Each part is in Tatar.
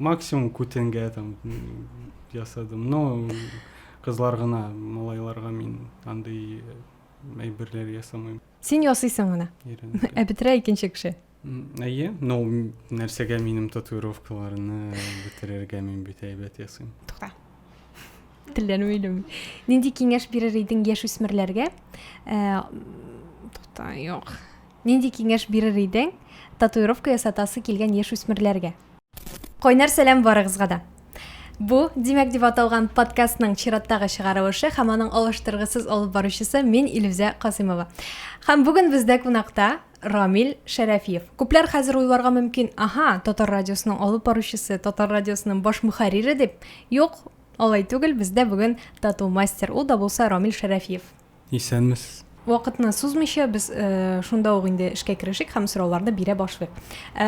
максимум күтенгә там ясадым но кызлар гына малайларга мин андый әйберләр ясамыйм син ясыйсың гына ә бетерә икенче кеше әйе но нәрсәгә минем татуировкаларны бетерергә мин бит әйбәт ясыйм тукта телләнү илем нинди киңәш бирер идең яшүсмерләргә тукта юк Нинди киңәш бирер идең татуировка ясатасы килгән яшүсмерләргә? Кайнар сәлам барыгызга да! Бу, димәк, дип аталган подкастның чираттагы чыгарылышы һәм аның алыштыргысыз алып баручысы мин Илүзә Касыймова. Һәм бүген бездә кунакта Рамил Шәрәфиев. Күпләр хәзер уйларга мөмкин, аһа, Татар радиосының алып баручысы, Татар радиосының баш мөхәррире дип. Юк, алай түгел, бездә бүген тату мастер, ул да булса Рамил Шәрәфиев. Исәнмесез. Вакытны сузмыйча, без шунда ук инде эшкә керешик һәм сорауларны бирә башлыйк.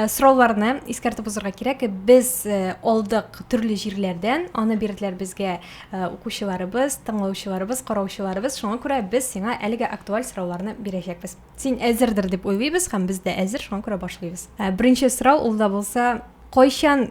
Сорауларны искәртеп узырга кирәк, без алдык төрле җирләрдән, аны бирделәр безгә укучыларыбыз, тыңлаучыларыбыз, караучыларыбыз, шуңа күрә без сиңа әлегә актуаль сорауларны бирәчәкбез. Син әзердер дип уйлыйбыз һәм без дә әзер, шуңа күрә башлыйбыз. Беренче сорау ул да булса, кайчан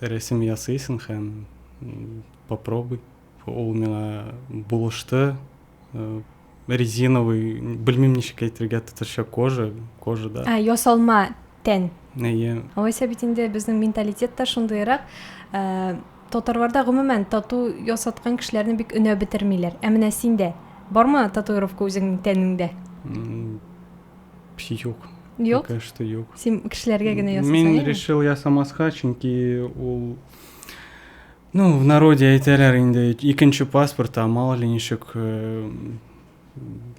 Рәсем ясыйсың һәм попробуй. Ул миңа булышты. Э, резиновый, белмим ничек әйтергә татарча кожа, кожа да. А, ясалма тән. Әйе. Алайса бит инде безнең менталитет та шундыйрак. Э, татарларда гомумән тату ясаткан кешеләрне бик өнәп бетермиләр. Ә менә синдә бармы татуировка үзеңнең тәнеңдә? Юк. Юк? Пока что юк. Син кешеләргә генә ясасаң. Мин решил ясамаска, чөнки ул Ну, в народе әйтәләр инде, икенче паспорт, а мало ли ничек э,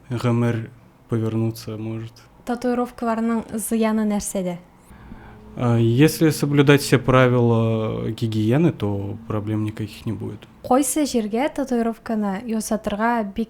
гомер повернуться может. Татуировкаларның зыяны нәрсәдә? А, если соблюдать все правила гигиены, то проблем никаких не будет. Кайсы җиргә татуировканы ясатырга бик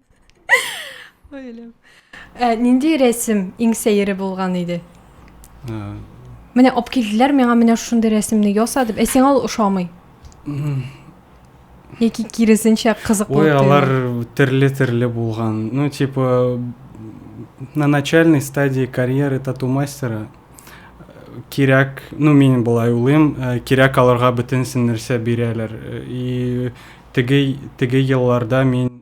Ойлым. Ә нинди рәсем иң сәере булган иде? Менә алып килделәр миңа менә шундый рәсемне яса дип. Ә сиңа ул ошамый? Яки киресенчә кызыклы. Ой, алар төрле-төрле булган. Ну, типа на начальной стадии карьеры тату мастера кирәк, ну мин болай уйлыйм, э, кирәк аларга бөтенсен нәрсә бирәләр. Э, и теге теге елларда мин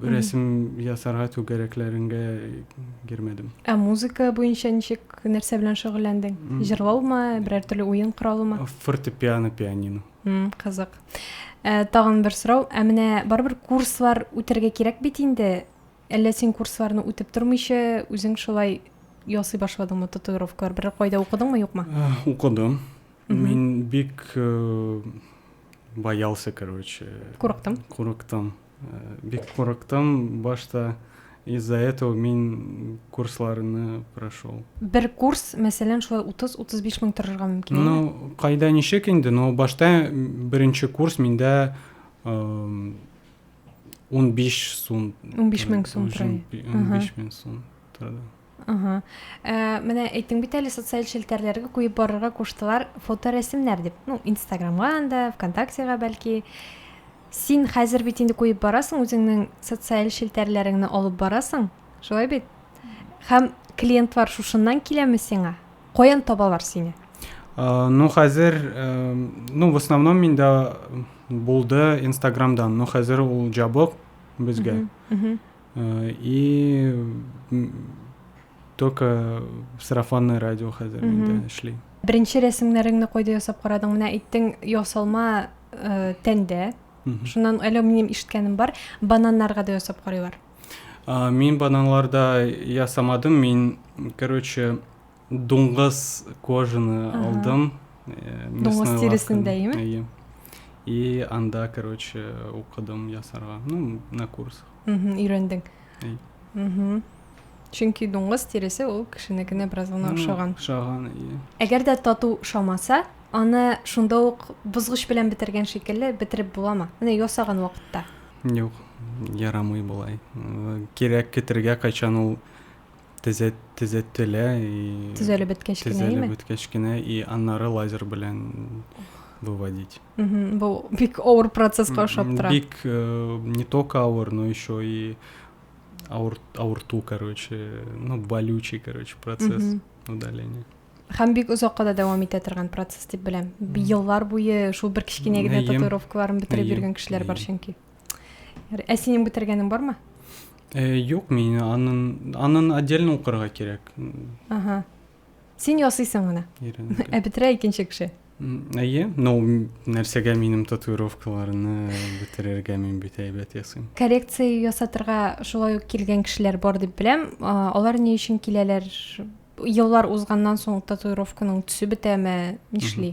Рәсем ясарга түгәрәкләреңгә кермәдем. Ә музыка буенча ничек, нәрсә белән шөгыльләндең? Җырлаумы, берәр төрле уен коралымы? Фортепиано, пианино. Кызык. Ә, тагын бер сорау. Ә менә барыбер курслар үтәргә кирәк бит инде. Әллә син курсларны үтеп тормыйча, үзең шулай ясый башладыңмы татуировкалар? Берәр кайда укыдыңмы, юкмы? Укыдым. Мин бик боялся, короче. Курыктым. Курыктым. Бик курыктым башта. Из-за этого мин курсларны прошел. Бер курс, мәсәлән, шулай 30-35 мең торырга мөмкин. Ну, кайда ничек инде, но башта беренче курс миндә 15 сум. 15 мең сум торды. 15 мең сум торды. Ага. Ә, менә әйттең бит әле социаль челтәрләргә куеп барырга куштылар фоторәсемнәр дип. Ну, Инстаграмга анда, ВКонтактега бәлки. Син хәзер бит инде куеп барасың үзеңнең социаль челтәрләреңне алып барасың. Шулай бит? Һәм клиентлар шушыннан киләме сиңа? Каян табалар сине? А, ну, хәзер, э, ну, в основном миндә булды Инстаграмдан. Ну, хәзер ул җабык безгә. Э, и только сарафанное радио хәзер инде эшли. Беренче рәсемнәреңне кайда ясап карадың? Менә әйттең, ясалма э, тәндә. Шуннан әле минем ишеткәнем бар, бананнарга да ясап карыйлар. Мин бананларда ясамадым, мин, короче, Дуңгыз кожаны алдым. Дуңгыз тиресен дәйме? И анда, короче, укыдым ясарга. Ну, на курсах. Өйрәндең. Чөнки дуңгыз тиресе ул кешенекенә бераз гына ошаган. Ошаган, и. Әгәр дә тату шамаса, аны шунда ук бозгыч белән бетергән шикелле бетереп буламы? Менә ясаган вакытта. Юк, ярамый болай. Кирәк китергә кайчан ул төзәт, төзәтелә и төзәлеп беткәч кенә төзәлеп име? беткәч кенә и аннары лазер белән выводить бу бик авыр процесска ошап тора бик э, не только авыр но еще и аур, аурту короче ну болючий короче процесс удаления һәм бик озакка да дәвам итә торган процесс дип беләм еллар буе шул бер кечкенә генә татуировкаларын бетереп йөргән кешеләр бар чөнки Ә синең бетергәнең бармы? Э, юк, мин анын анын отдельно укырга кирәк. Ага. Син ясыйсың гына. Ә бетерә икенче кеше. Әйе, но нәрсәгә минем татуировкаларны бетерергә мин бит әйбәт ясыйм. Коррекция ясатырга шулай ук килгән кешеләр бар дип беләм. Алар ни өчен киләләр? Еллар узганнан соң татуировканың төсе бетәме? Нишли?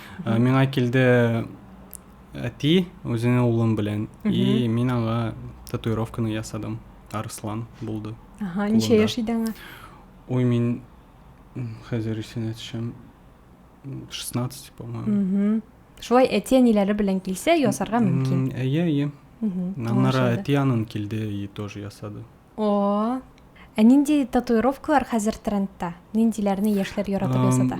Э, миңа килде әти үзенең улым белән и мин аңа татуировканы ясадым арыслан булды ага ничә яшь иде аңа ой мин хәзер исенә төшәм 16 по моему шулай әти әниләре белән килсә ясарга мөмкин әйе әйе аннары әти анын килде и тоже ясады о ә нинди татуировкалар хәзер трендта ниндиләрне яшьләр яратып ясата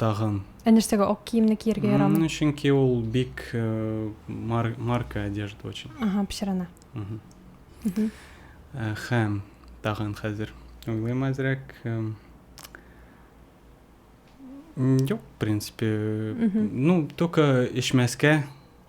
тагын ә нәрсәгә ак киемне кияргә ярамый чөнки ул бик марка одежда очень ага пешерана һәм тагын хәзер уйлыйм әзрәк юк в принципе ну только эчмәскә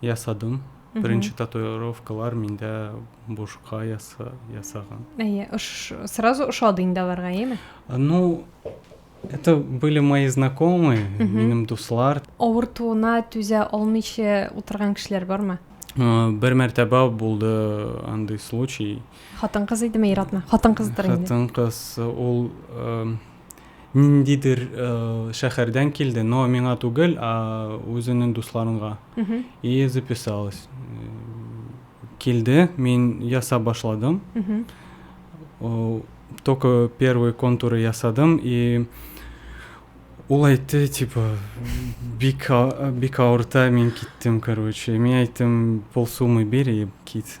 ясадым Беренче татуировкалар миндә бушка яса, ясаган. Әйе, ош, сразу ошады инде аларга, әйеме? Ну, это были мои знакомые, минем дуслар. Авыртуына түзә алмыйча утырган кешеләр бармы? Бер мәртәбә булды андый случай. Хатын-кыз идеме, ир-атны? Хатын-кыздыр инде. Хатын-кыз, ул ниндидер шәхәрдән килде, но миңа түгел, а үзенең дусларынга. И записалась. Килде, мин яса башладым. Только первый контур ясадым и ул әйтте, типа, бик бик авырта, мин киттем, короче. Мин әйттем, полсуммы бир и кит.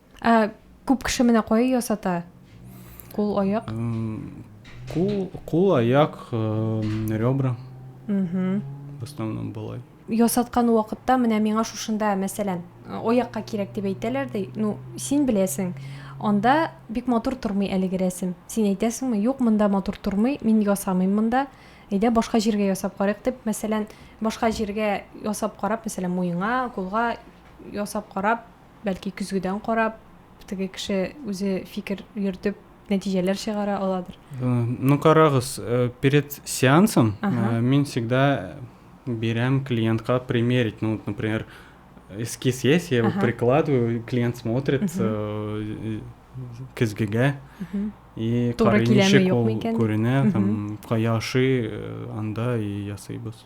Ә күп кеше менә кая ясата? Кул, аяк? Кул, кул, аяк, ребра. Угу. В основном былай. Ясаткан вакытта менә миңа шушында, мәсәлән, аякка кирәк дип әйтәләр ди. Ну, син беләсең, анда бик матур тормый әлеге рәсем. Син әйтәсеңме, юк, монда матур тормый, мин ясамыйм монда. Әйдә башка җиргә ясап карыйк дип, мәсәлән, башка җиргә ясап карап, мәсәлән, муеңа, кулга ясап карап, бәлки көзгедән карап теге кеше үзе фикер йөртеп нәтиҗәләр чыгара аладыр э, ну карагыз э, перед сеансом э, мин всегда берем клиентка примерить ну например эскиз есть я его прикладываю клиент смотрит көзгегә и карыймичек ул күренә там кая ашый анда и ясыйбыз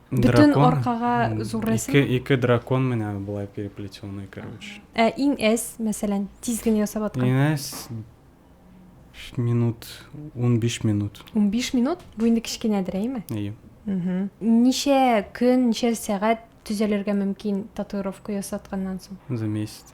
Бөтен аркага зур рәсем. Ике, ике дракон менә болай переплетенный, короче. Ә иң әз, мәсәлән, тиз генә ясап аткан. Иң әз минут, 15 минут. 15 минут? Бу инде кечкенәдер, әйме? Әйе. Ничә көн, ничә сәгать төзәлергә мөмкин татуировка ясатканнан соң? За месяц.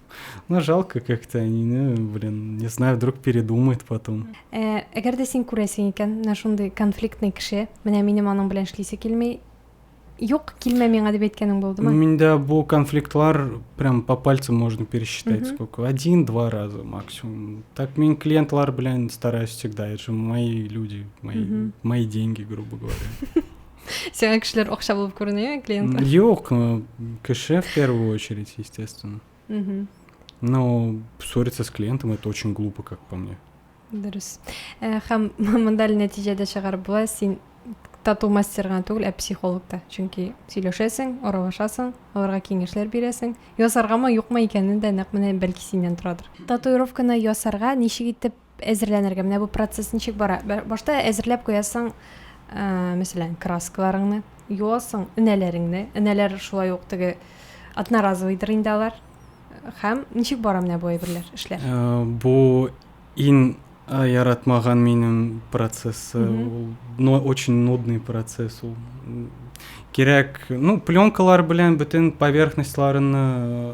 Ну, жалко как-то, они, ну, блин, не знаю, вдруг передумает потом. Э, әгәр дә син күрәсең икән, менә шундый конфликтный кеше, менә минем аның белән эшлисе килми, юк, килмә миңа дип әйткәнең булдымы? Миндә бу конфликтлар прям по пальцам можно пересчитать, угу. сколько, один-два раза максимум. Так мин клиентлар белән стараюсь всегда, это же мои люди, мои, угу. мои деньги, грубо говоря. Сиңа кешеләр акча булып күренә, клиент? Юк, э, кеше в первую очередь, естественно. Угу. Но ссориться с клиентом это очень глупо, как по мне. Дөрес. Э, һәм монда нәтиҗәдә чыгарып була, син тату мастер гына түгел, ә психолог та. Чөнки сөйләшәсең, аралашасың, аларга киңәшләр бирәсең. Ясаргамы, юкмы икәнен дә нәкъ менә бәлки синнән торадыр. Татуировканы ясарга ничек итеп Әзерләнергә. Менә бу процесс ничек бара? Башта әзерләп куясың, ә, мәсәлән, краскаларыңны, юасың энәләреңне. Энәләр шулай ук теге одноразовыйдыр инде алар. Һәм ничек бара менә бу әйберләр, эшләр? Ә, бу ин а, яратмаган минем процессы. Ул но очень нудный процесс ул. Кирәк, ну, пленкалар белән бөтен поверхностьларны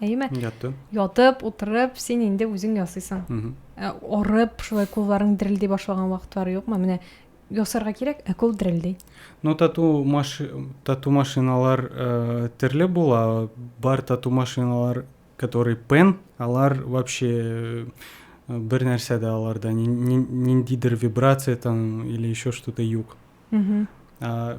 әйеме ятты ятып утырып син инде үзең ясыйсың ә, орып шулай кулларың дерелди башлаган вакытлары юкмы менә ясарга кирәк ә кул дерелди но тату маш тату машиналар ә, төрле була бар тату машиналар который пен алар вообще бер нәрсә дә аларда ниндидер вибрация там или еще что то юк ә,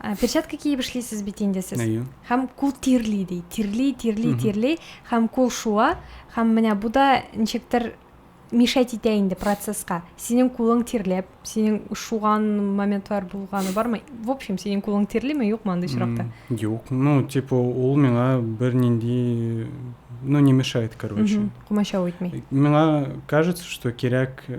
Ә, перчатка киеп эшлисез бит инде сез. Әйе. Һәм кул тирли ди. Тирли, тирли, тирли һәм кул шуа һәм менә бу да ничектер мешать итә инде процесска. Синең кулың тирләп, синең шуган моментлар булганы бармы? В общем, синең кулың тирлиме, юкмы андый очракта? Юк. Ну, типа ул миңа бернинди ну не мешает, короче. Кумачау итми. Миңа кажется, что кирәк э,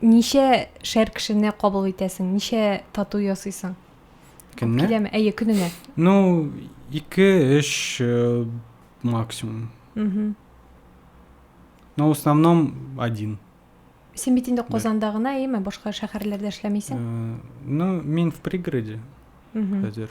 Ничә шәр кешене кабул итәсең? Ничә тату ясыйсың? Көнне? Киләме? Әйе, көненә. Ну, ике, өч э, максимум. Угу. Но в основном один. Син бит инде Казанда гына, әйеме? Башка шәһәрләрдә эшләмисең? Э, ну, мин в пригороде. Угу. Хәзер.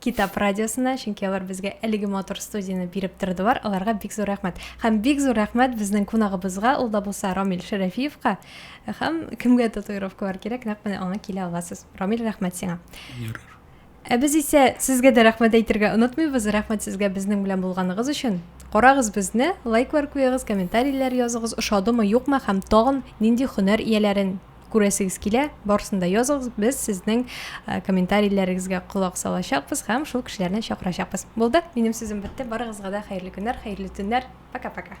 Китап радиосына, чөнки алар безгә әлеге матур студияне биреп тордылар. Аларга бик зур рәхмәт. Һәм бик зур рәхмәт безнең кунагыбызга, ул да булса Рамил Шәрәфиевка. Һәм кемгә татуировкалар кирәк, нәкъ менә аңа килә аласыз. Рамил, рәхмәт сиңа. Ярар. Ә без исә сезгә дә рәхмәт әйтергә онытмыйбыз. Рәхмәт сезгә безнең белән булганыгыз өчен. Карагыз безне, лайклар куегыз, комментарийләр языгыз, ошадымы, юкмы һәм тагын нинди хөнәр ияләрен күрәсегез килә, барысын да языгыз, без сезнең э, комментарийләрегезгә колак салачакбыз һәм шул кешеләрне чакырачакбыз. Булды? Минем сүзем бетте. Барыгызга да хәерле көннәр, хәерле төннәр. Пока-пока.